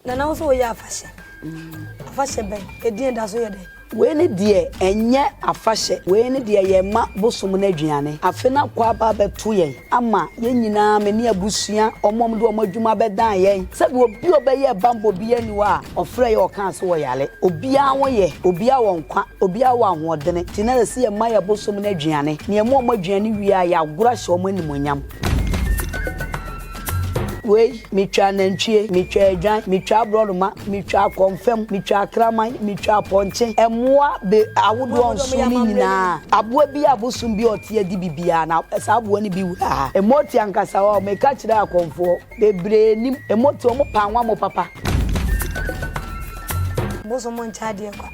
Nana wo sɛ woyɛ afahyɛ. Afahyɛ bɛn? Ɛdeɛ da so yɛ dɛn? Wei ne deɛ ɛnyɛ afahyɛ, wei ne deɛ yɛma bosom no aduane. Afe no akɔ aba abɛto yɛn ama yɛn nyinaa, me ne abusua, wɔn a wɔde wɔn adwuma bɛdan yɛn. Sɛdeɛ obi a ɔbɛyɛɛ bammɔ biara nni hɔ a ɔfrɛɛ yɛn a ɔkaa sɛ ɔyare. Obiara ho yɛ, obiara wɔ nkwa, obiara wɔ ahoɔdene, enti na ɛsɛ sɛ yɛma yɛn bosom no aduane. Na yɛma wɔn aduane wie a, yɛagoro ahyɛ wɔn animuonyam. Wei, metwaa nantwie, metwaa adwan, metwaa aborɔnoma, metwaa kɔmfɛm, metwaa kraman, metwaa apɔnkye, mmoa be ahodoɔ nson no nyinaa, aboa bi a abosom bi a ɔte adi biribiara, na saa aboa no bi wuraa ha. Mmoti ankasa, wɔɔ, meka kyerɛɛ akɔmfoɔ, bebree nim mmoti, wɔpaa nwammɔ papa. Bosom nkyɛ adeɛ kwa.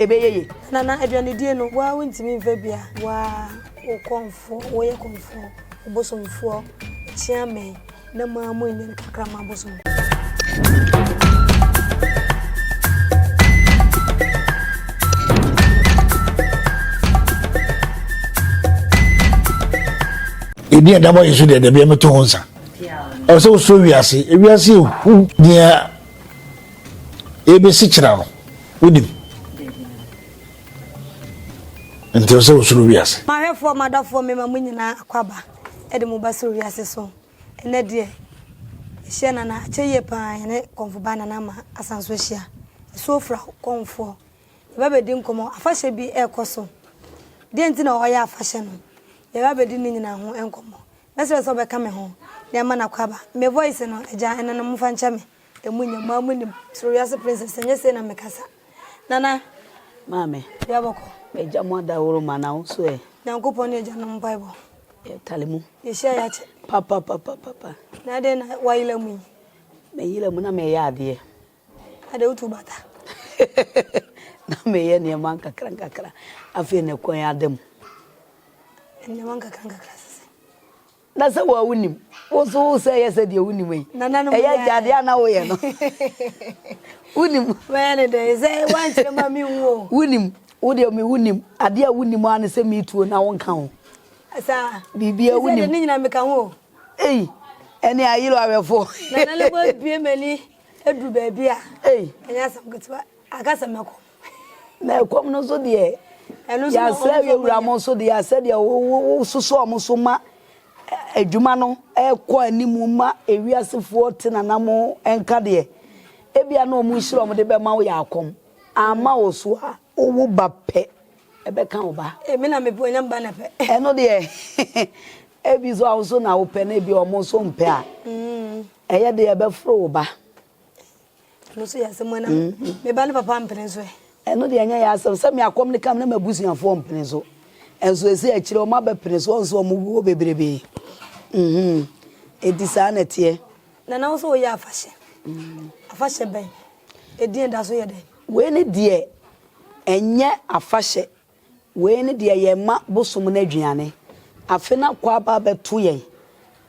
ɛbɛyɛ ye. Nana aduanedie no woaa wontimi mfa bi a. Woaa wo kɔmfoɔ woyɛ kɔmfoɔ wobosomfoɔ kyea me na moaa mo anya no kakra ma abosom. Ɛdi a dabɔ yɛ so deɛ dabi a mɛto ho nsa ɛwɔ sɛ wosoro wiase wiase ɛhu deɛ Ebesi kyena no, wonim. Nti ɛsɛ wosuro wiase. M'ahwɛfoɔ, m'adɔfoɔ, mema mo nyinaa akwaaba de mo ba soro wiase so. Ɛnnɛ deɛ, ɛhyɛ Nana, akyɛ yie pa ara yɛne Kɔmfo Baa Nana Ama asan so ahyia. Asuo fra wo, Kɔmfoɔ. Yɛba abɛdi nkɔmmɔ. Afahyɛ bi rekɔ so. Deɛ nti na wɔyɛ afahyɛ no, yɛba abɛdi ne nyinaa ho nkɔmmɔ. Mɛsrɛ sɛ wobɛka me ho na yɛama no akwaaba. Me voice no, Agya, ɛno no momfa nkyɛ me. Emu nyɛ moa mo nim. Soro wiase princess sɛ nyɛ sei na me kasa Nana. Maame. Dua bɔkɔ. Bɛ gya mo adaworo ma na wo so ɛ. Nyankopɔn ne agya nom mpaebɔ. Yɛ tale mu. Yɛ hyia yɛ akyɛ. Papapapapapa. Na adɛn na wa yela mu yi. Me yela mu na me yɛ adeɛ. Adɛn wo tu bata. Na me yɛ nneɛma nkakra nkakra afei na kwan ada mu. Nneɛma nkakra nkakra sese. Na sɛ wo a wunim, wo nso wo sɛ yɛ sɛ deɛ wunim yi. Nananom Ɛyɛ yɛ. agyadeɛ a na woyɛ no. Wunim. Mɛyɛ ne dɛn sɛ woankyerɛ ma menhu o. Wunim. Wo deɛ me wunim. Adeɛ a wunim ara ne sɛ metuo na wonka ho. Saa. Biribiara Sɛ deɛ wunim. ne nyinaa meka ho o. Ei, ɛne ayere awɛfoɔ. Nananom abue m'ani aduru baabi a, Ei, ɛnyɛ asɛm ketewa. Anka sɛ mɛkɔ. Na ɛkɔm no nso deɛ, yɛasrɛ awie wura mo nso deɛ, asɛ deɛ wososɔ wɔn so ma adwuma no ɛkɔ anim ma ewiasefoɔ te nanamo nka deɛ, ebia na wɔn nhyira wɔn de bɛma wo yɛ akɔm, amma wo so a, wowo ba pɛ, ɛbɛka wo ba. Emi na mepɛ onyam ba na pɛ. Ɛno deɛ, ebi so a wo so na wopɛ na ebi wɔn nso mpɛ a, ɛyɛ deɛ ɛbɛforo wo ba. Ɛno nso yɛ asɛm ana me ba ne papa ampene nso ɛ? Ɛno deɛ ɛnyɛ yɛ asɛm sɛ me akɔm no ka me na m'abusuafoɔ mpene so. Nso ɛsɛ akyire wɔn abɛpene so wɔn nso wɔn wuo bebrebe. Enti saa na ɛteɛ. Nana wo sɛ woyɛ afahyɛ. Afahyɛ bɛn? Ɛdin ɛda so yɛ dɛn? Wei ne deɛ ɛnyɛ afahyɛ Wei ne deɛ yɛma bosom no aduane. Afe no akɔ aba abɛto yɛn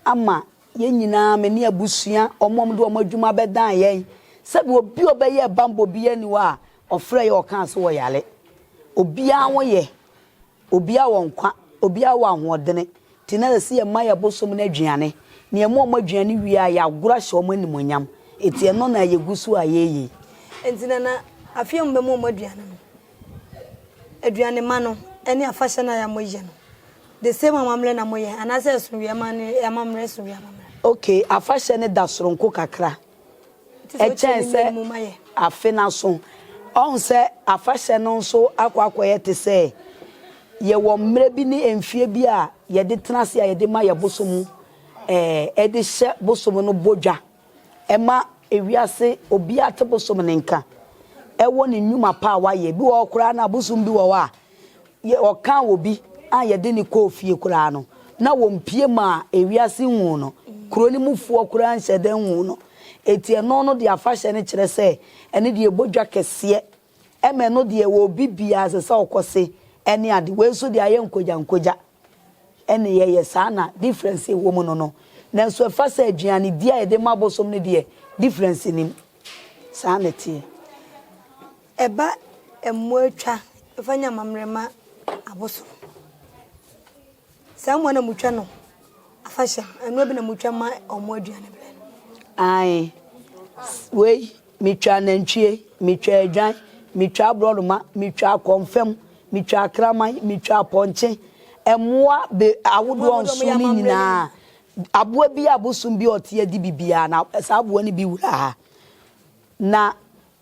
ama yɛn nyinaa, me ne abusua, wɔn a wɔde wɔn adwuma abɛdan yɛn. Sɛdeɛ obi a ɔbɛyɛɛ bammɔ biara nni hɔ a ɔfrɛɛ yɛn a ɔkaa sɛ ɔyare. Obiara ho yɛ, obiara wɔ nkwa, obiara wɔ ahoɔdene, nti na ɛsɛ sɛ yɛma yɛn bosom no aduane. Na yɛma wɔn aduane wie a, yɛagoro ahyɛ wɔn animuonyam. Enti ɛno na yɛgu so a yɛreyɛ yi. Enti na na afeɛ mu bɛma wɔn aduane no, Aduane ma no ne afahyɛ no a yɛ mo yɛ no the same amammerɛ na mo yɛ anaa sɛ ɛso wia ma ne amammerɛ ɛso wia amammerɛ. Ok afahyɛ no da soronko kakra ɛkyɛn sɛ afe no aso ɔhu sɛ afahyɛ no nso akɔ akɔ yɛ te sɛ yɛ wɔ mmerɛ bi ne mfie bi a yɛde tena ase a yɛde ma yɛ bosom ɛɛ ɛde hyɛ bosom no bɔ dwa. Ɛma ewiase obiara te bosom ne nka wɔ ne nnwuma pa a wayɛ. Ebi wɔ hɔ koraa no a, bosom bi wɔ hɔ a, yɛ ɔkaa obi a yɛde no kɔɔ fie koraa no, na wɔmpue ma ewiase nhuu no. Kuro no mufoɔ koraa nhyɛ da nhuu no. Enti ɛno no deɛ afahyɛ no kyerɛ sɛ ɛno deɛ ɛbɔ dwa kɛseɛ. Ɛma ɛno deɛ wɔ obi biara ɛsɛ sɛ ɔkɔ se ne ade. Wei nso deɛ ayɛ nkogyankogya. Ɛne yɛyɛ saa na difference ɛwɔ mu no no nanso ɛfa sɛ aduane di a yɛde ma abosom no deɛ difference nnim saa na ɛteɛ. Ɛba mmoa twa fa nya amammerɛ ma abosom saa mmoa na motwa no afahyɛ no ɛnoa bi na motwa ma wɔn aduane berɛ no. Ae wei Metwa anantwie, metwa adwan, metwa aborɔnoma, metwa akɔmfam, metwa akraman, metwa apɔnkye, mmoa be ahodoɔ nson no nyinaa, aboa bi a bosom bi a ɔte adi bi biara, na saa aboa no bi wura ha. Na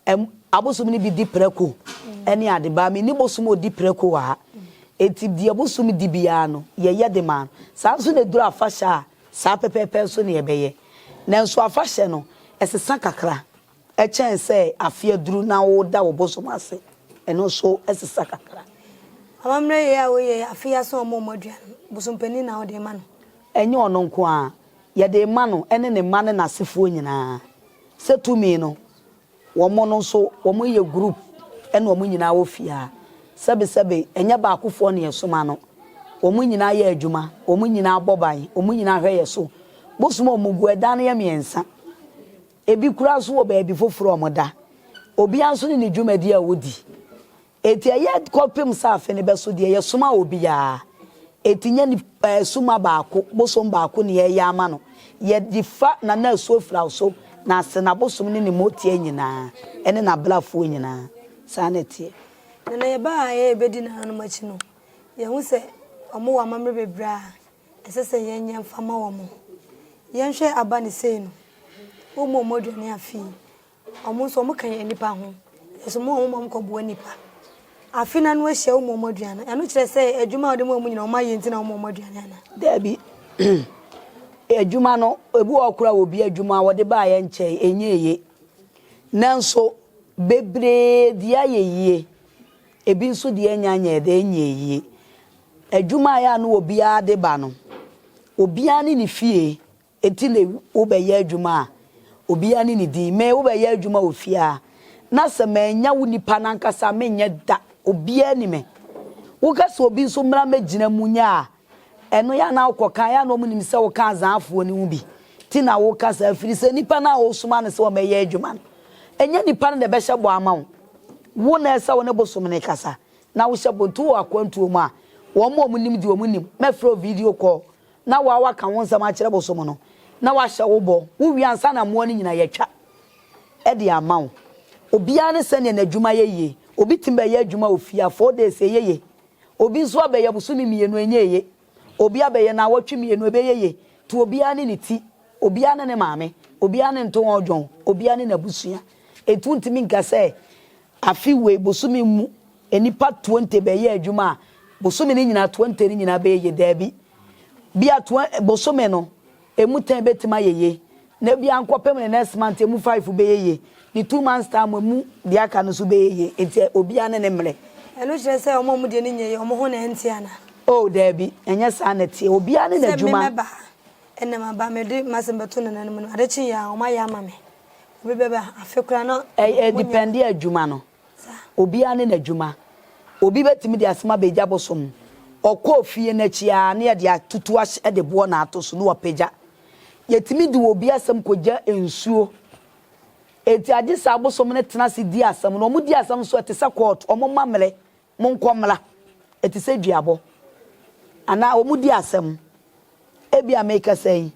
ɛm, abosom no bi di prako ne ade, baa menni bosom a ɔdi prako wɔ ha. Enti deɛ bosom di biara no, yɛyɛ de ma no. Saa nso na ɛduru afahyɛ a, Saa pɛpɛɛpɛ nso na yɛbɛyɛ. Nanso afahyɛ no, ɛsesa kakra. Ɛkyɛn sɛ afe aduru na woda wo bosom ase. Ɛno nso sesa kakra. Amammerɛ yei a woyɛ yi, afe yi aso a wɔmmɔ aduan no, bosom panin na wode rema no? Ɛnyɛ ɔno nko ara. Yɛde rema no ne ne mma ne n'asefoɔ nyinaa sɛ tumi no Wɔn no nso wɔn yɛ group ɛna wɔn nyinaa wɔ fie aa sɛbe sɛbe ɛnyɛ baakofoɔ na yɛsoma no wɔn nyinaa yɛ adwuma wɔn nyinaa bɔ ban wɔn nyinaa hwɛ yɛ so bosom a wɔn gu ɛdan no yɛ mmiɛnsa ebi koraa nso wɔ baabi foforɔ a wɔn da obiara nso ne ne dwumadie a ɔdi Enti ɛyɛ kɔpem sɛ afe no bɛso deɛ yɛsoma obiara. Enti nyɛ nipa suma baako, bosom baako ne yɛyɛ ama no. Yɛde fa na na asuo fira wo so, na ase na bosom ne ne moteɛ nyinaa, ɛne n'abrafoɔ nyinaa. Saa na ɛteɛ. Na na yɛba a yɛyɛ bɛdi nananom akyi no, yɛhu sɛ wɔwɔ amammerɛ bebree a ɛsɛ sɛ yɛnyɛ mfa ma wɔn. Yɛnhwɛ aba ne sei no, wɔn mu a wɔaduane afe yi, Wɔn nso wɔn ka yɛn nipa ho. Nanso wɔn a wɔn ma wɔn kɔ boa nipa. Afe no ano ahyia wɔn ma wɔn aduane no. Ɛno kyerɛ sɛ adwuma a wɔde ma wɔn nyinaa wɔn ayɛ nti na wɔn ma wɔn aduane ana? Dabi. adwuma no ebi wɔ hɔ koraa obi adwuma a wɔde baayɛ nkyɛe ɛnyɛ eye. Nanso bebree deɛ ayɛ yie. Ebi nso deɛ ɛnyɛ anyɛ dɛ ɛnyɛ yie. Adwuma a ɛyɛ a na obiara de ba no obiara ne ne fie Enti me, wobɛyɛ adwuma a, obiara ne ne din, me, wobɛyɛ adwuma wɔ fie a, na sɛ mannya wo nipa no ankasa a, menyɛ da, obiara nni me. Woka sɛ obi nso mmra mmɛgyina mu nyɛ a, ɛno yɛ a na wokɔka, ɛyɛ a na wɔnim sɛ woka Azaafoɔ no ho bi nti na woka saa, ɛfiri sɛ nipa no a wosoma no sɛ ɔmmɛyɛ adwuma no, ɛnyɛ nipa no na ɛbɛhyɛ bɔ ama wo, wo na ɛsɛ wo ne bosom no kasa na wohyɛ bɔ, nti wowɔ akwantuo mu a, wɔn a wɔnim deɛ wɔnim, mɛfrɛ wo video call na wo a woaka wo nsɛm akyerɛ bosom no, na woahyɛ wo bɔ, wowie ansa na mmoa no nyinaa yɛatwa de ama wo. Obiara ne sɛdeɛ n'adwuma yɛ yie. Obi tumi bɛyɛ adwuma wɔ fie a, four days, ɛyɛ yie. Obi nso abɛyɛ bosome mmienu, ɛnyɛ yie. Obi abɛyɛ nnawɔtwe mmienu, ɛbɛyɛ yie. Nti obiara ne ne ti, obiara ne ne maame, obiara ne ntowɔn dwon, obiara ne n'abusua. Enti wontumi nka sɛ Afe wei bosome mu nnipa twenty bɛyɛ adwuma a, bosome no nyinaa twenty no nyinaa bɛyɛ yie? Daabi. Bia twen bosome no ɛmu ten bɛtumi ayɛ yie, na bia nkɔpem ne next month ɛmu five bɛyɛ yie, ne two months time mu ɛmu deɛ aka no nso bɛyɛ yie. Nti obiara ne ne mmerɛ. Ɛno kyerɛ sɛ wɔn a wɔn deɛ no nyɛ yie, wɔn ho na ɛnte anaa? Oh daabi, ɛnyɛ saa na ɛteɛ. Obiara ne Sɛ me n'adwuma. mɛba a, ɛnnɛ maba, mede m'asɛm bɛto n'ananom no, ade kyeeɛ a, wɔayɛ ama me. obi bɛba ha afe koraa na Ɛ ɛ monyɛ. depɛnde adwuma no. Saa. Obiara ne n'adwuma. Obi bɛtumi de asɛm aba agya bosom. Ɔkɔɔ fie no akyi ara na yɛde atutu ahyɛ de boɔ na ato so na wapagya. Yɛtumi de obi asɛm kɔgya nsuo. Enti agye sɛ abosom no tena ase di asɛm no. Wɔdi asɛm nso ɛte sɛ kɔɔto. Wɔma mmerɛ Monkɔ mmra. Ɛte sɛ duabɔ. Anaa wɔredi asɛm. Ebia merekasa yi,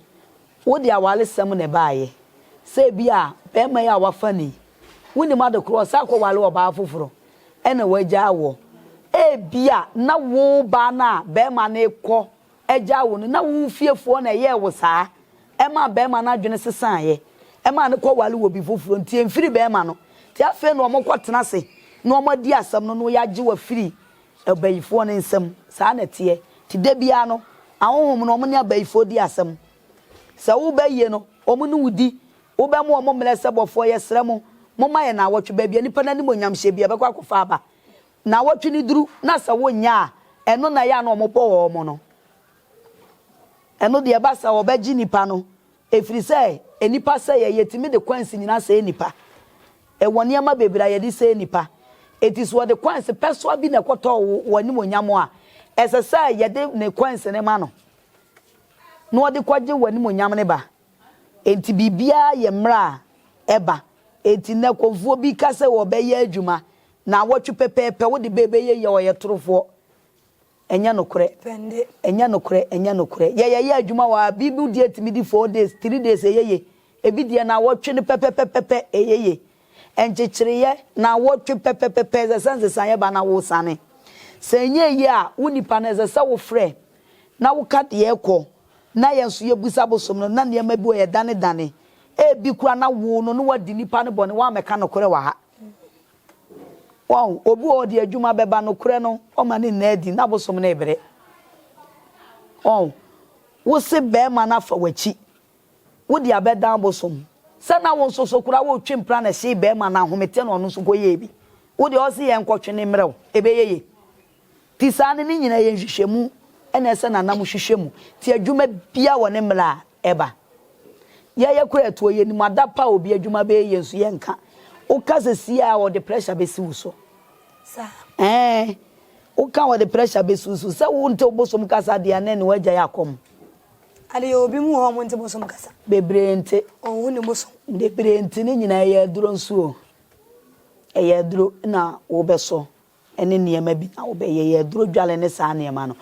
wode awaresɛm na ɛbaeɛ. Sɛ ebia barima yi a wafa ni, wonim ade korɔ, ɔsan kɔware ɔbaa foforɔ, ɛnna wagyaa woɔ. Ebia na wo baa no a barima no rekɔ agyaa wo no, na wo fiefoɔ na ɛyɛɛ wo saa, ɛmaa barima no adwene sesaeɛ, ɛmaa no kɔware obi foforɔ, nti ɛmfiri barima no, nti afei na wɔkɔtena ase na wɔadi asɛm no na wɔagye wo afiri abayifoɔ no nsam, saa na ɛteɛ, nti da biara no ahonhom no wɔne abayifoɔ di asɛm, sɛ woreba ayie no wɔn ne wo di, wobɛma wɔn mmerɛ sɛ bɔfoɔ yɛsrɛ mo momma yɛn nnawɔtwe, baabi a nipa no animuonyamhyɛ biara bɛkɔ akɔfa aba, Nnawɔtwe no duru na sɛ wonnya a, ɛno na ɛyɛ a na wɔbɔ wɔn no. Ɛno deɛ, ɛba saa a, wɔbɛgye nnipa no, ɛfiri sɛ nnipa sɛeɛ, yɛtumi de coins nyinaa sɛe nnipa. Ɛwɔ nneɛma bebree a yɛde sɛe nnipa. Enti sɛ wɔde coins pɛsoa bi na ɛkɔtɔ wo wɔ w'animuonyam a, ɛsɛ sɛ yɛde ne coins no ma no na ɔde kɔgye w'animuonyam no ba. Enti biribiara yɛ mmerɛ a ɛba. Enti nnɛ kɔmfoɔ bi ka sɛ wɔbɛyɛ adwuma Naawɔtwe pɛpɛɛpɛ wode bɛ bɛyɛ yɛ ɔyɛ torofoɔ ɛnyɛ nokorɛ ɛnyɛ nokorɛ ɛnyɛ nokorɛ yɛ yɛyɛ adwuma wɔ ha bible deɛ tumi di four days three days ɛyɛ ye ebi deɛ naawɔtwe no pɛpɛpɛpɛpɛ ɛyɛ ye nkyekyereyɛ naawɔtwe pɛpɛpɛpɛ ɛsɛ sɛ nsesaeɛ ba na wosane sɛ ɛnyɛɛ yie a wo nipa no ɛsɛ sɛ wofrɛ na woka deɛ ɛkɔ na yɛn nso yɛbusa bosom no na nneɛma bi wɔ yɛdanedane ebi koraa na woo no na wadi nipa no bɔne woammɛka nokorɛ wɔ ha. Wahu? Obi wɔ hɔ, ɔde adwuma bɛba, nokorɛ no, ɔma no nna adi, n'abosom no rebrɛ. Wahu? Wose barima no afa w'akyi, wode abɛdan abosom, sɛ na wo nso so koraa woretwe mpena na ɛhyee barima no ahomete na ɔno nso kɔyɛɛ bi. Wo deɛ ɔse yɛnkɔtwe no mmrɛ wo, ɛbɛyɛ yie? Nti saa no ne nyinaa yɛ nhwehwɛmu na ɛsɛ na nam hwehwɛ mu nti adwuma biara wɔ ne mmerɛ a ɛba. Yɛyɛ koraa ɛtoɔ yɛnim adapa a obi adwuma bɛyɛ yɛn nso yɛnka. Woka sesie a wɔde pressure bɛsi wo so. Ɛɛ woka a wɔde pressure bɛsi wo so. Sɛ wonte wo bosom kasa deɛ a na ɛne w'agya yɛ akɔm. Ade yɛwɔ bi mu wɔ hɔ a wɔnte bosom kasa. Bebree nte. Wɔnhu ne bosom. Bebree nte ne nyinaa ɛyɛ aduro nso o. Ɛyɛ aduro na wobɛsɔ ne nneɛma bi na wɔbɛyɛ yɛ aduro dwale ne saa nneɛma no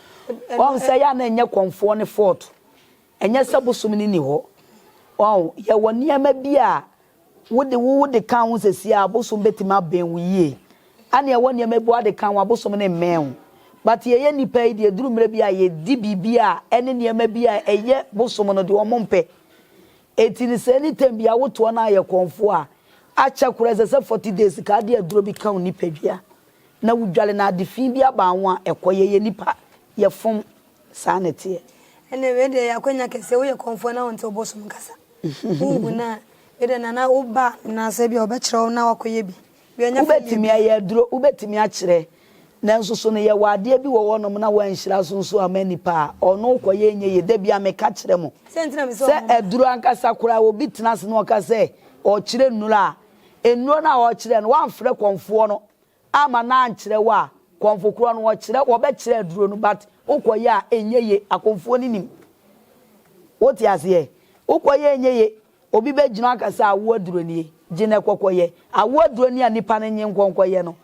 wɔn sɛ yɛ a na ɛnyɛ kɔnfoɔ ne fort ɛnyɛ sɛ bosom ne ni hɔ wɔn yɛwɔ nneɛma bi a wode wo wode ka ho sɛ si a bosom bɛtumi abɛn wo yie ɛne ɛwɔ nneɛma bi wade ka ho a bosom ne mmɛn ho but yɛyɛ nnipa yi deɛ duru mmerɛ bi a yɛdi biribi a ɛne nneɛma bi a ɛyɛ bosom no deɛ wɔn mpɛ ɛti ne sɛ ne tɛm bi a wotoɔ no ayɛ kɔnfoɔ a Akyɛ koro a ɛsɛ sɛ forty days ka ade aduro bi ka wo nipadua na wo dware na ade fii bi aba wo a ɛkɔ yɛ yɛ nipa yɛ fom saa na ɛteɛ. Ɛnneɛ wei deɛ ɛyɛ akwanya kɛseɛ woyɛ kɔmfoɔ na wonte ɔbosom kasa wonhu no a wei deɛ nana wo ba anaasɛ bi a ɔbɛkyerɛ wo na wakɔyɛ bi. Wobɛtumi ayɛ aduro wobɛtumi akyerɛ Nanso so no yɛwɔ adeɛ bi wɔ hɔ nom na wɔanhyira so nso amma nnipa a ɔno kɔyɛ nyɛ yie? Da biara meka kyerɛ mo sɛ aduro ankasa koraa obi tena ase na ɔka sɛ ɔrekyerɛ nnuro a, nnuro no a ɔrekyerɛ no woamfrɛ kɔmfoɔ no amma no ankyerɛ wo a, kɔmfo korɔ no wɔkyerɛ wɔbɛkyerɛ aduro no but wokɔyɛ a ɛnyɛ yie. Akɔmfoɔ no nim. Wote aseɛ? Wokɔyɛ a ɛnyɛ yie. Obi bɛgyina hɔ aka sɛ awoɔ aduro nie, gye no ɛkɔkɔ yɛ. Awoɔ aduro nie a nnipa no nnye nkɔ nkɔ yɛ no,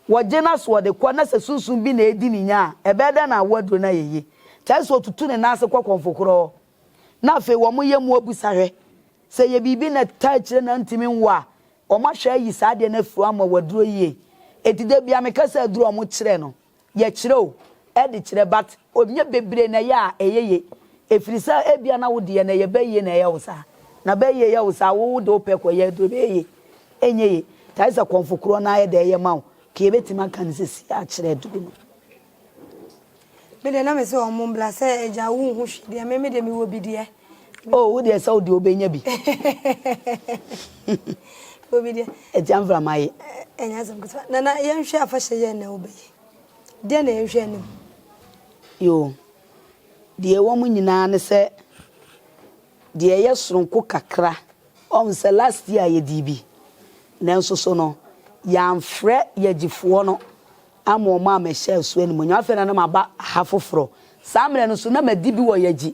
wɔgye no asoɔ de kɔ na sɛ sunsum bi na ɛredi ne nya a, ɛbɛyɛ dɛn na awoɔ aduro no ayɛ yie? Kyɛre sɛ ɔtutu ne nan ase kɔ kɔmfokorɔɔ. Na afei wɔn yɛ mu abisa hwɛ. Sɛ ɛyɛ biribi na ɛtaa akyire na antumi nwo a, wɔn ahwɛ ayi saa adeɛ no afiri hɔ ama waduro yie. Enti da biara meka sɛ aduro a wɔkyerɛ no, yɛ kyerɛw de kyerɛ but ɔnyɛ bebree na ɛyɛ a ɛyɛ ye ɛfiri sɛ ɛbia na wo deɛ no ɛyɛ bɛyie na ɛyɛ wo saa na bɛyie yɛ wo saa wo wo de wo pɛ kɔ yɛ aduro bɛyɛ ye ɛnyɛ ye nti ayɛ sɛ kɔmfo korɔ no ayɛ dɛ ɛyɛ ma wo nti yɛbɛtumi aka no sɛsi akyerɛ aduro no. Me deɛ na me se ɔmo mbla sɛ agya wo nhu hwee deɛ me me deɛ me wɔ bi deɛ. Oh wo deɛ sɛ wo deɛ wo bɛnya bi. Obi deɛ. Ɛtia mframa ye. Ɛnyɛ asɛm ketewa. Nana yɛnhwɛ afahyɛ yɛn na wo bɛyɛ. Deɛ na yɛnhwɛ anim. Yoo deɛ ɛwɔ mu nyinaa ne sɛ deɛ ɛyɛ soronko kakra ɔhu sɛ last year yɛdii bi nanso so no yɛamfrɛ yɛgyefoɔ no ama wɔn ammɛhyɛ so animuonyam afei na na maba ha foforɔ saa mmerɛ no so na madi bi wɔ yɛgye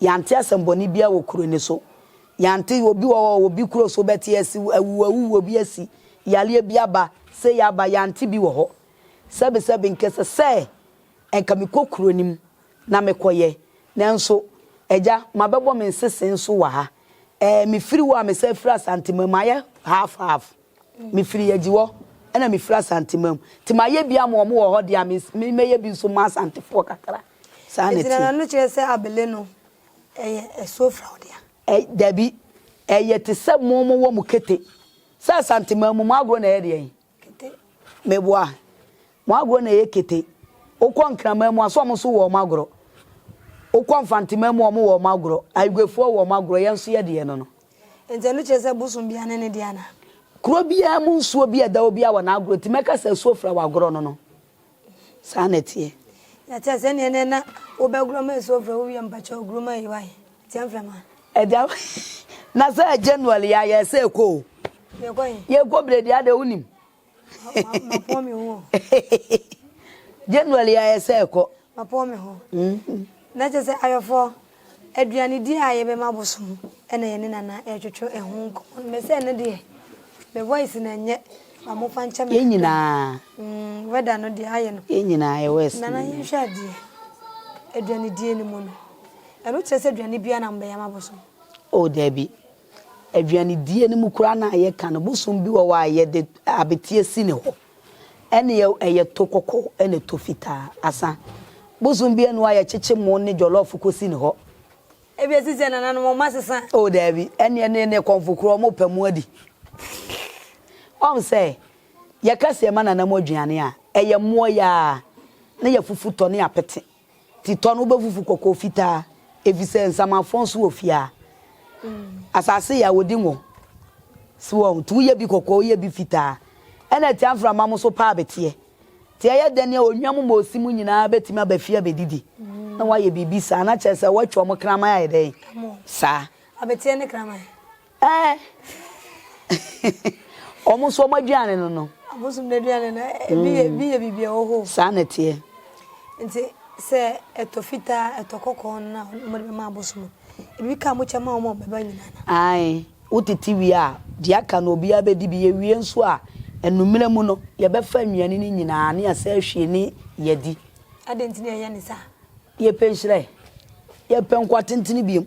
Yɛante asɛmmɔne biara wɔ kuro no so. Yɛante obi wɔ hɔ a obi kuro so bɛte asi, awu awuo bi asi, yareɛ bi aba, sei aba, yɛante bi wɔ hɔ. Sɛbesɛbe nka ɛsɛ sɛ nka mekɔ kuro no mu na mekɔyɛ. Nanso, Agya, mabɛbɔ me nsese nso wɔ ha. Ɛɛ, mefiri hɔ a mesan firi Asantema mu. Ayɛ half half. Mefiri Agyihɔ ɛna mefiri Asante mam nti mayɛ bi ama wɔn wɔ hɔ deɛ a me mɛyɛ bi nso ma Asantefoɔ kakra. Saa na ɛteɛ. Ɛgyina n'ano kyerɛ sɛ abele no ɛyɛ ɛsofrao dea? Ɛ, dabi. Ɛyɛ te sɛ mo mo wɔ mo kete. Sɛ Asante mam mu mo agorɔ na ɛyɛ deɛn? Kete. Meboa. Mo agorɔ na ɛyɛ kete. Wokɔ Nkraman mu a so wɔn nso wɔ wɔn agorɔ? Wokɔ Mfante mam mu wɔn wɔ wɔn agorɔ? Aigwefoɔ wɔ wɔn agorɔ, yɛn nso yɛdeɛ no no. Enti ɛno kyerɛ sɛ bosom biara ne ne deɛ anaa? Kuro biara mu nsuo bi a ɛda hɔ biara wɔ n'agorɔ nti mɛka sɛ asuo fira wɔ agorɔ no no. Saa na ɛteɛ. Na kyɛɛ sɛ neɛ nɛ na wo bɛ gorɔ ma asuo fira wo wie a mpakyɛw guro ma yi wae tia mfrɛ ma. Ɛda na sɛ January yɛ a yɛɛ sɛ ɛkɔ o. Yɛkɔ he? Yɛkɔ bredi adɛ wo nim. Mapɔn me ho. January ayɛ sɛ ɛkɔ. Mapɔn me ho. Na kyerɛ sɛ ayɔfo aduanedi a yɛbɛma bosom ɛna yɛne Nana ɛretwetwe ɛho nkɔmmɔ no. Mese ɛno deɛ me voice no ɛnyɛ ba mo fa nkyɛ me. Yɛn nyinaa. Weather no deɛ ayɛ no. Yɛn nyinaa yɛ west. Nana yɛnhwɛ adeɛ aduanedie no mu no ɛno kyerɛ sɛ aduane biara na mobɛyɛ ama bosom? Oh dabi. Aduanedie no mu koraa no a yɛka no, bosom bi wɔ hɔ a yɛde abeteɛ si ne hɔ. Ɛnneɛ ɛyɛ to kɔkɔɔ ne to fitaa. Asa. Bosom bi ɛno a yɛkyekye mo ne jɔlɔɔfo kɔsi ne hɔ. Ebia ɛsi sɛ nananom wɔn asesa. O daabi, ɛnneɛ ne ne kɔmfo korɔ wɔrepɛ mo adi. Woahu sɛ, yɛka sɛ yɛma nananom aduane a, ɛyɛ mmoa yi ara, na yɛafufu tɔ ne apete. Ti tɔ no, wobɛfufu kɔkɔɔ fitaa, efisɛ nsamanfrɔn so wɔ fie a, asase yɛ a, wɔdi ngo. So wɔn? Nti woyɛ bi kɔkɔɔ, woyɛ bi fitaa, ɛnna atia mframa mo so pa abeteɛ. Nti ɛyɛ dɛn a onwa mu ma osi mu nyinaa bɛtumi aba fie abɛdidi? Na woayɛ biribi saa a, na kyerɛ sɛ woatwa wɔn kraman ayɛ dɛn saa? Abeteɛ ne kraman. Ɛɛ wɔn nso wɔn aduane no no. Abosom no aduane no ebi yɛ ebi yɛ biribi a ɛwɔ hɔ. Saa na ɛteɛ. Nti sɛ ɛtɔ fitaa ɛtɔ kɔkɔɔ no na wɔde bɛma abosom no ebi ka mo kyɛ ma wɔn a wɔbɛba nyinaa no. Ae wotete wie a deɛ aka no obiara bɛdi bi yɛwie nso a anummerɛ mu no yɛbɛfa nnuane no nyinaa ne yɛasan ahwie ne yɛadi. Adɛn nti na yɛyɛ no saa? Yɛpɛ nhyira ɛ. Yɛpɛ nkwa tentene bio.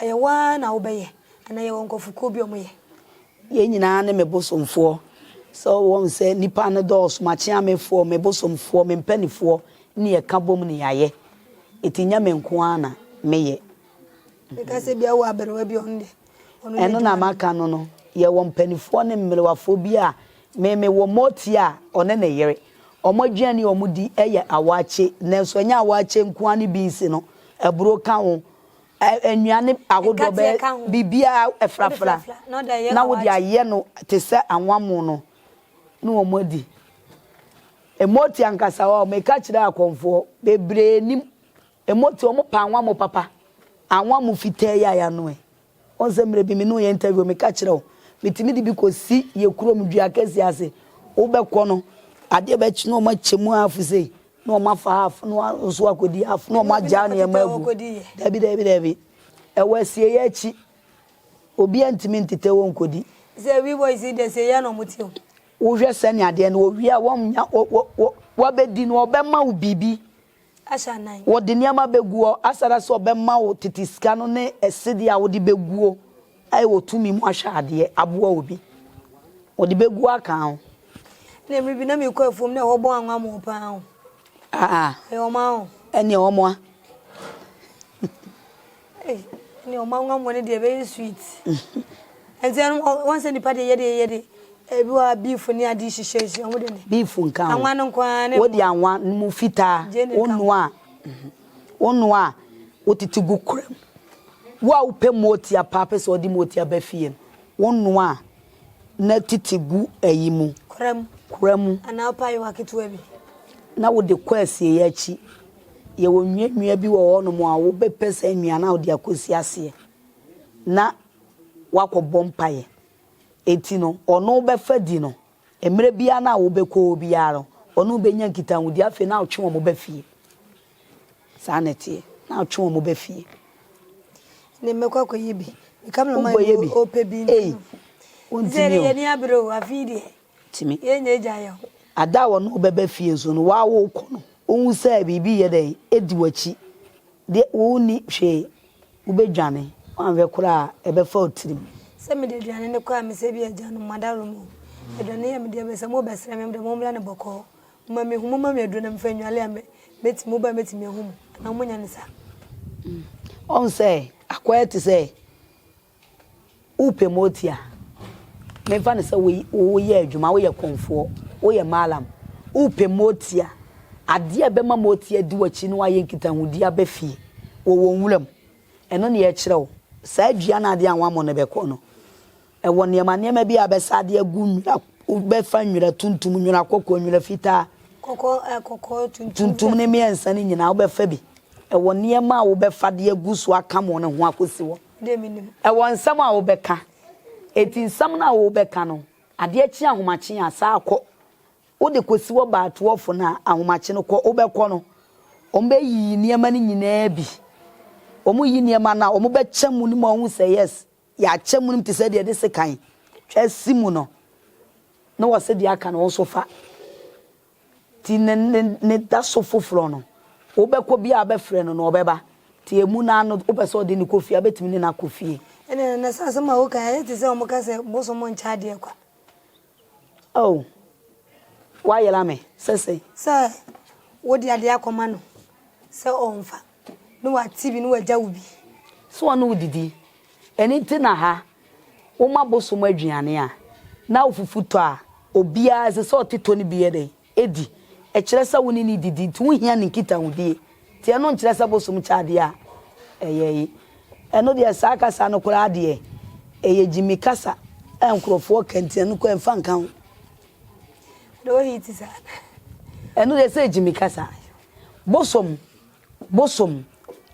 Ɛyɛ wo ara na wobɛyɛ anaa yɛwɔ nkurɔfokuo bi a wɔyɛ? Yɛn nyinaa ne me bosomfoɔ. Sɛ wɔhu sɛ nnipa no dɔɔso, m'akyeamefoɔ, me bosomfoɔ, me mpanimfoɔ ne yɛka bom na yɛayɛ. Enti nyɛ me nko ara na meyɛ. Meka sɛ bia wɔ aberewa bi a ɔno deɛ ɔno Ɛno na maka no no, yɛwɔ mpanimfoɔ ne mmerewafoɔ bi a me mewɔ motie a ɔne ne yere. Wɔn aduane a wɔdi yɛ awaakye, nanso ɛnyɛ awaakye nko ara ne binsi no, aburo ka ho, nnuane ahodoɔ bɛyɛ biribiara afrafra na wode ayɛ no te sɛ anwammo no ne wɔn adi. Mmoti ankasa hɔ a, meka kyerɛ akɔmfoɔ bebree nim mmoti, wɔpɛ anwammo papa, anwammo fitaa yi a yɛanoe. Wohu sɛ mmerɛ bi me ne wo yɛ interview meka kyerɛ wo metumi de bi kɔsi yɛ kurom dua kɛseɛ ase wobɛkɔ no adeɛ bɛkye na wɔn akyɛ mu half sei na wɔn afa half na wɔn nso akɔdi half na wɔn agyaa nneɛma agu daabi daabi daabi ɛwɔ asieɛ akyi obiara ntumi ntetɛ wɔ nkɔdi sɛ we boys yi deɛ sɛ yɛ na wɔn te o. wohwɛ sɛnea adeɛ no wɔwie a wɔnya wɔ wɔ wɔ wɔabɛdi no wɔbɛma wo biribi Wɔde nneɛma begu hɔ asada sɛ wɔbɛma wo tete sika no ne ɛsede a wode beguo ayɛ wɔ tumi mu ahwɛ adeɛ aboa wo bi. Wɔde bɛguo aka ho. Ɛnna mmerɛ bi na mekɔ afuom na ɛhɔ bɔn anwamoo pa ara o. Aa. Ɛyɛ wɔn a o. Ɛnneɛ wɔn a. Ei ɛne ɔma nwanwa no deɛ ɛbɛyɛ sweet. Ɛnti ɛno wɔn sɛ nipa deɛ yɛde yɛde ebi wɔ ha beef ne ade hyehyɛ nsi wɔn de ne. Beef nka ho. Anwa no nko ara ne. Wɔde anwa no mu fitaa wɔnoa a wɔnoa a wɔtete gu kora mu. Wo a wopɛ mooti a paa pɛ sɛ ɔde mooti aba fie no wɔnoa a. na tete gu ayi mu. Kora mu. Kora mu. Anaa wopɛ ayewa ketewa bi. Na wode kɔ asieeɛ akyi. Yɛwɔ nnuannua bi wɔ hɔnom a wobɛpɛ saa nnuan no na wode akɔsi aseɛ na woakɔbɔ mpaeɛ. Enti no, ɔno wobɛfa di no. Mmerɛ biara no a wobɛkɔ hɔ biara no, ɔne wo bɛnya nkitahodie. Afei na wotwe wɔn ba fie. Saa na ɛteɛ. Na ɔtwe wɔn ba fie. Ɛnneɛ mɛkɔ akɔyɛ bi. Me camera man Wokɔyɛ bi? ɔpɛ bi nti. Ei, Sɛ wontumi deɛ o. yɛni abere o, afei deɛ Tumi. yɛnya agya yɛ ho. Ada a wɔne wo bɛba fie nso no, wo a worekɔ no, wohu sɛ biribi reyɛ dɛn? Ɛredi w'akyi deɛ, wonni hwee. Wobɛdwane. Woanhwɛ koraa a, ɛbɛfa wo tirim. Sɛ mede aduane no kɔ a, mesɛ bi a agyanom, moadaworoma o, aduane yi a mede aba yi, sɛ mobɛsrɛ me a, mo deɛ mommra no bɔkɔɔ. Momma me hu, momma me aduro na mefa nnwale a mɛti, mo ba mɛtumi ahu mo, anaa mo nyɛ no saa. Ɔhu sɛ akwaa yi te sɛ wopɛ moti a, memfa no sɛ woyɛ adwuma, woyɛ kɔnfoɔ, woyɛ maalam, wopɛ moti a, adeɛ a ɛbɛma moti adi w'akyi na woayɛ nkitahodie aba fie wɔ wɔn nwura mu, ɛno na yɛkyerɛ wo, saa dua no adeɛ a wɔammɔ no bɛkɔ no. Ɛwɔ nneɛma nneɛma bi a bɛsa ade agu nwera, wobɛfa nwera tuntum, nwera kɔkɔɔ, nwera fitaa. Kɔkɔɔ, eh, kɔkɔɔ, tuntum. Tuntum ne mmiɛnsa no nyinaa wobɛfa bi. Ɛwɔ nneɛma a wobɛfa de agu so akam wɔn ho akɔsi hɔ. Deɛ menim. Ɛwɔ nsɛm a wobɛka. Enti nsɛm no a worebɛka no, adeɛ kye ahomakye a, saa kɔ. Wode kɔsi hɔ baa toɔfo no a, ahomakye no kɔ. Wobɛkɔ no, wɔbɛyiyi nneɛma no nyinaa bi. Wɔreyi nneɛma no a, wɔbɛkyɛ mu no ma wɔahu sɛ yes, Yɛakyɛ mu nom te sɛ deɛ yɛde sekan twa asi mu no, na wɔse deɛ aka no wo nso fa. Nti ne, ne, ne da so foforɔ no, wobɛkɔ biara wobɛfrɛ no no, ɔbɛba. Nti emu no ara no, wopɛ sɛ ɔde no kɔ fie a, wobɛtumi ne no akɔ fie. Ɛnna na saa asɛm a woka yi ayɛ te sɛ wɔka sɛ bosom nkyɛ adeɛ kwa. Oh, woayera me. Sɛ sɛn? Sɛ wode adeɛ akɔma no sɛ ɔmfa. Ne w'ate bi ne w'agya wo bi. Sɛ ɔne wo didi. Ɛno nti na ha. Wo ma bosom aduane a. Na ofufu tɔ a. Obiara ɛsɛ sɛ ɔte tɔ no bi yɛ dɛn? Ɛdi. Ɛkyerɛ sɛ wo ne no didi nti wo hia ne nkitahodie. Nti ɛno nkyerɛ sɛ bosom kyɛ adeɛ a ɛyɛe. Ɛno deɛ saa kasa no koraa deɛ ɛyɛ gyimi kasa a nkorɔfoɔ ka nti ɛno koraa mfa nka ho. Ɛno deɛ sɛ gyimi kasa. Bosom Bosom,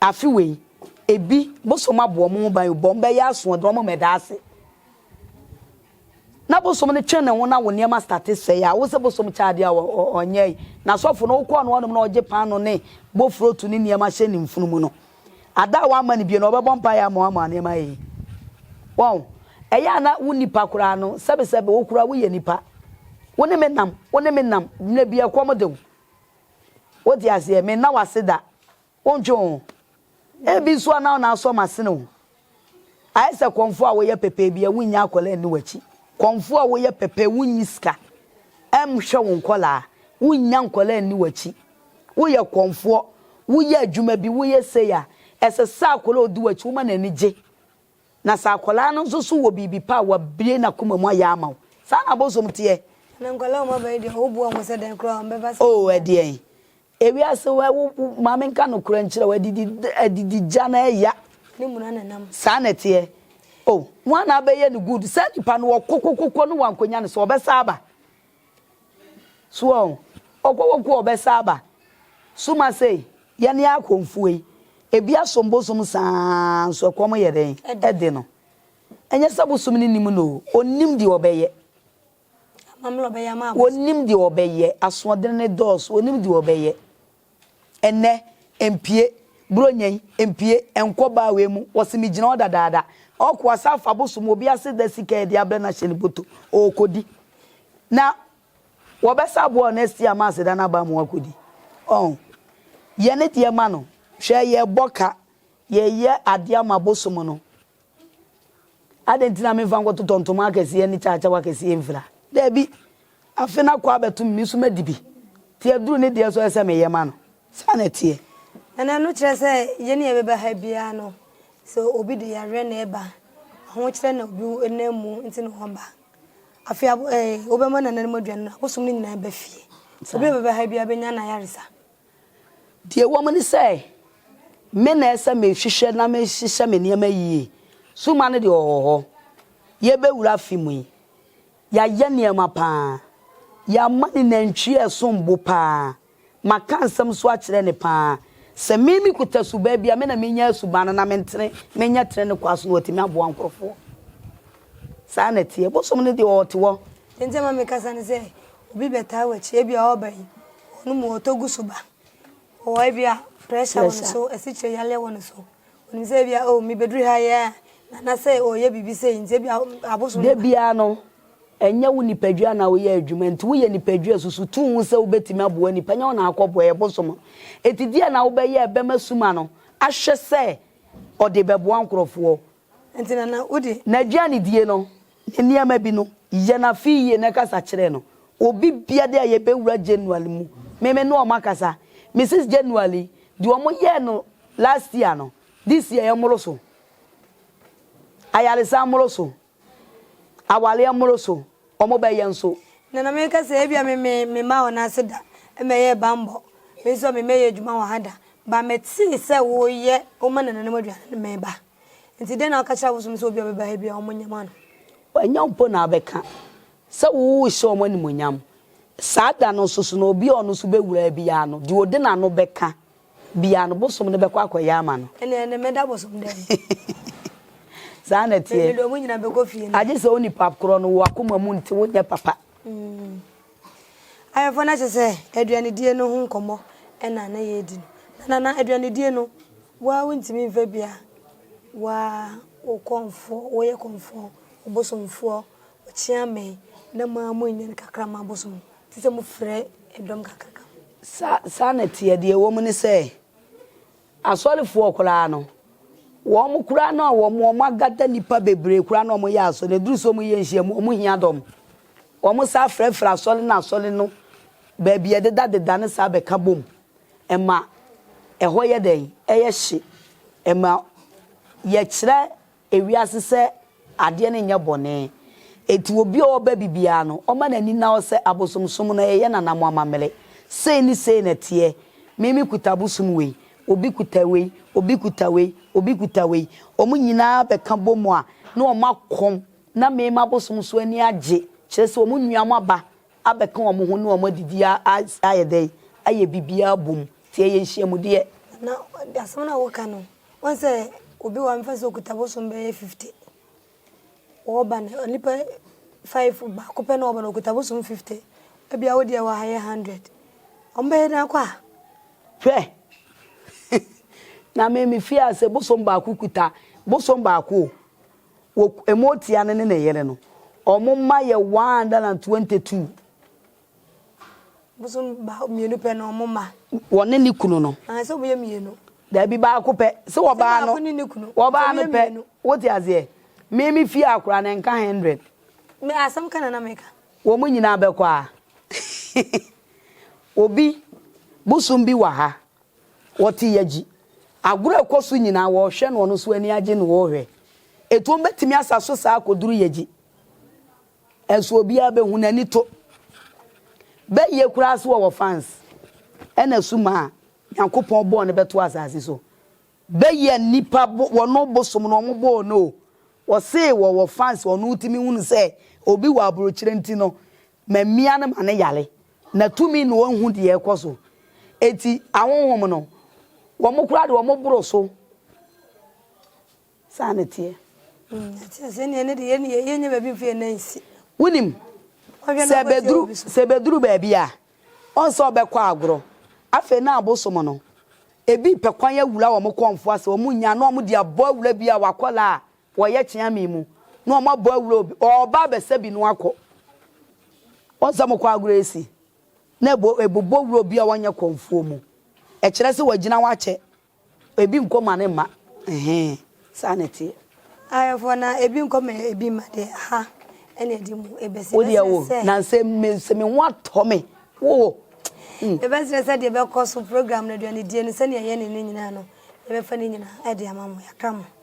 afe wei, ebi, bosom abɔ wɔn ho ban o, bɔ wɔbɛyɛ asoɔden, wɔn mmɛda ase. Na bosom no twe ne ho na wo nneɛma state sɛe a, wo sɛ bosom kyɛ adeɛ a ɔnyɛe. N'asɔfo no, wokɔ ɔno hɔnom na ɔgye paano ne bofuro to ne nneɛma hyɛ ne mfunumu no. Ada a wamma no bio no, ɔbɛbɔ mpaeɛ ama wo ama nneɛma ayɛ yie. Wɔn, ɛyɛ a na wo nipa koraa no, sɛbesɛbe wo koraa woyɛ nipa. Wo ne me nam, wo ne me nam, mmerɛ bi ɛkɔm de wo. Wote aseɛ? Menna wo ase da. Wontwe wo ho. Ebi nso a na wo nan asɔ m'asene o. Ayɛ sɛ kɔmfoɔ a woyɛ pɛpɛ bi a wonnya akwadaa nni w'akyi. Kɔmfoɔ a woyɛ pɛpɛ, wonnyi sika nhwɛ wo nkwadaa, wonnya nkwadaa nni w'akyi. Woyɛ kɔmfoɔ, woyɛ adwuma bi, woyɛ sei a, ɛsɛ sɛ akwadaa a ɔdi w'akyi, woma n'ani gye. Na sɛ akwadaa no nso so wɔ biribi pa a wabue n'akoma mu ayɛ ama wo. Saa na abosom teɛ. Na nkwadaa a wɔn aba yi deɛ, wo boa wɔn sɛ dɛn koraa wɔn bɛba sɛ. Oh ɛdeɛn. Ewiase wɛ wo wo ma me nka nokorɛ nkyerɛ wo adidi adidi gya no ɛya. Ne mu na na ɛnam. Saa na ɛteɛ. Oh wɔn a na abɛyɛ no good saa nipa no ɔkɔ kɔ kɔ kɔ na wɔankɔnya no so ɔbɛsan aba. So wɔhu? Ɔkɔ wɔ ko a ɔbɛsa aba. So masei, yɛne akɔmfoɔ yi, ebi asom bosom saa ara nso ɛkɔm yɛ dɛn? Ɛde no. Ɛnyɛ sɛ bosom no nnim no o, ɔnim deɛ ɔbɛyɛ. Amammerɛ a ɔbɛyɛ ama abosom. Ɔnim deɛ ɔbɛyɛ. Asoɔdene no dɔɔso, ɔnim deɛ ɔbɛyɛ. Ɛnnɛ, mpue, Buronya yi, mpue, nkɔ baa wei mu, wɔse megyina hɔ dadaada. Ɔɔkɔ ase afa abosom obi ase da sika a ɛde abrɛ no ahyɛ ne bɔtɔ mu, ɔɔkɔdi. Na wɔbɛsa aboa wo next year ma aseda no aba ama woakɔdi. Ɔho. Yɛ ne deɛ ma no. Hwɛ, yɛrebɔ ka, yɛreyɛ adeɛ ama abosom no. Adɛn nti na memfa nkɔtotɔ ntoma akɛseɛ ne kyakyaw akɛseɛ mfira? Dabi, afe no akɔ abɛtom, me nso madi bi. Enti aduru ne deɛ nso ɛsɛ sɛ meyɛ ma no. Saa na ɛteɛ. Ɛnna ɛno kyerɛ sɛ yɛn a yɛbɛba ha biara no, sɛ obi de yareɛ na ɛba, ahokyerɛ na obi nam mu nti na ɔba. Afei abo ɛɛ wobɛma nananom aduane no, abosom no nyinaa ba fie. Obi a ɔbɛba ha biara bɛnya n'ayaresa. Deɛ ɛwɔ mu ne sɛ, me na ɛsɛ mehwehwɛ na mehyehyɛ me nneɛma yie. Summa no deɛ ɔwɔ hɔ. Yɛrebɛwura afe mu yi, yɛayɛ nneɛma pa ara. Yɛama no nantwie a ɛsom bo pa ara. Maka nsɛm nso akyerɛ no pa ara. Sɛ me mekuta suban bi a, me na menya suban no na mentene, menyɛ tene ne kwan so na watumi aboa nkurɔfoɔ. Saa na ɛteɛ. Bosom no deɛ ɔte hɔ. Nti ama mekasa ne sɛ obi bɛtaa w'akyi ebia ɔɔba yi ɔno mu ɔtɔ gu so ba ɔwɔ ebia pressure wɔ ne so asikyire yareɛ wɔ ne so onim sɛ ebia oh mebɛduru ha yɛ a nana sɛ ɔyɛ biribi sei nti ebia abosom da biara no ɛnyɛ wo nipadua na woyɛ adwuma nti woyɛ nipadua susu tu ho sɛ wobɛtumi aboa nipa nyɛ wo na akɔboa yɛ bosom no ɛti deɛ na wobɛyɛ ɛbɛma suma no ahwɛ sɛ ɔde bɛboa nkorɔfoɔ Enti na na wodi. N'aduanedie no, ne nneɛma bi no, yɛ no afe yie na kasa kyerɛ no. Obi bia de a yɛbɛwura January mu, me me ne wɔn akasa. Mrs. January, deɛ wɔn yɛɛ no last year no, this year ɛmmoro so. Ayaresa mmoro so. Awareɛ mmoro so. wɔbɛyɛ nso. Na na meka sɛ, Ebia me me memmaa wɔn ase da mmɛyɛɛ bammɔ, me nso a memmɛyɛɛ adwuma wɔ ha da, but metee sɛ woreyɛ wo mmanananom aduane no ma ɛba. Enti dɛn na ɔka kyerɛɛ abosom no sɛ obi a ɔbɛba ha biara wɔnyɛ ma no? Ɛnyɛ wo mpo na wobɛka sɛ worehyɛ wɔn animuonyam. Saa da no nso so na obi a ɔno nso bɛwura ha biara no, deɛ ɔde n'ano bɛka Bia no bosom no bɛkɔ akɔyɛ ama no. Ɛneɛ ne mɛda bosom dɛn mu. Saa na ɛteɛ. Mede ɔmo nyina bɛkɔ fie no. Agye sɛ wo nipa korɔ no woakoma mu nte wo nyɛ papa. Ayefo no kyɛ sɛ aduanedie no ho nkɔmmɔ na na yɛredi no. Na Nana, aduanedie no, wo ara wontumi mfa bi a wo ara wo kɔmfoɔ, woyɛ kɔmfoɔ, ɔbosomfoɔ, ɔkyeame na mo ara monnya no kakra ma abosom no. Te sɛ mofrɛ dɔm kakraka mu. Sa, saa na ɛteɛ. Deɛ ɛwɔ mu ne sɛ, asɔrefoɔ koraa no, wɔn koraa no a wɔn, wɔn agada nnipa bebree koraa na wɔyɛ asɔre no, ɛduru sɛ wɔyɛ nhyiamu a, wɔhia dɔm. Wɔn san frɛfrɛ asɔre no asɔre no baabi a ɛdedadeda no saa bɛka bom. Ɛma ɛhɔ yɛ dɛn? Ɛyɛ hye. Ɛma yɛkyerɛ ewiase sɛ adeɛ no nyɛ bɔne. Enti obi a ɔba bibiara no, ɔma n'ani nna hɔ sɛ abosomsom no ɛyɛ nana mo amammere. Sei ne sei na ɛteɛ. Me me kuta abosom wei, obi kuta wei, obi kuta wei, obi kuta wei. Wɔn nyinaa bɛka bɔ mu a, na wɔn akɔm na me m'abosom so ani agye. Kyerɛ sɛ wɔn nua mo aba abɛka wɔn ho ne wɔn adidi a ayɛ dɛn? Ayɛ bibiara bom. Nti ɛyɛ nhyiamudeɛ. Nana, asɛm no a woka no, Woahu sɛ obi wɔ hɔ a mɛfa sɛ ɔkuta bosom bɛyɛ 50. Wɔba no, nnipa five, baako pɛ na ɔba no ɔkuta bosom 50. Ebia wo deɛ wɔ ha yɛ 100. Wɔbɛyɛ dɛn akɔ a? Hwɛ! Na me mefii ase bosom baako kuta bosom baako o. Wɔ Ɛmootia no ne ne yere no, wɔma yɛ 122. Bosom ba mmienu pɛ na wɔn ma. Wɔne ne kunu no. Sɛ wɔn yɛ mmienu. Daabi baako pɛ. Sɛ ɔbaa no. Sɛ baako ne ne kunu. Ɔbaa no pɛ. Wote aseɛ? Me me fie akora na nka hundred. Me asɛm ka na na meka. Wɔn nyinaa bɛkɔ a. Obi bosom bi wɔ ha. Wɔte yagyi. Agorɔ ɛkɔ so nyinaa wɔrehwɛ no ɔno so ani agye na ɔrehwɛ. Etuo bɛtumi asa so saa akɔduru yagyi. Ɛso obiara bɛhu n'ani to. Bɛ yie koraa so ɔwɔ fans ɛna su maa nyankopɔn bɔɔ no bɛto asase so bɛ yɛ nipa wɔno bosom no ɔmo bɔɔ no o ɔsee wɔwɔ fans ɔno timi hunu sɛ obi wɔ abrokyire nti no mamia no ma no yare na tumi na ɔnhu deɛ ɛkɔ so eti ahonhom no wɔmo koraa deɛ wɔmo boro so Saa na ɛteɛ. Ɛte aseɛ ne ɛne deɛ yɛn yɛn nyɛ baabi mfie nan si. Wonim sɛ bɛduru sɛ bɛduru baabi a ɔn sɛ ɔbɛkɔ agorɔ afei na abosom no ebi pɛ kwan awura wɔn kɔnfo ase wɔn nya na wɔn de abɔ awura bi a wakɔla a wɔyɛ kyeame mu na wɔn abɔ awura obi ɔba abɛsɛ bi no akɔ wɔn sɛ wɔn kɔ agorɔ esi na ebo ebobɔ wura obi a wɔnyɛ kɔnfoɔ mu ɛkyerɛ sɛ wɔgyina wakyɛ Ebi nkɔ ma ne mma ɛhee saa na ɛteɛ. Ayɛfoɔ na ebi nkɔ ma ebi mma deɛ aha ɛna ɛde mu ɛbɛsi. Wo deɛ wo na sɛ me sɛ me ho atɔ me wo wo. Yɛbɛsrɛ sɛ deɛ ɛbɛkɔ so program no aduanedie no sɛdeɛ yɛyɛ ne no nyinaa no yɛbɛfa ne nyinaa ɛde ama mo yɛaka mo.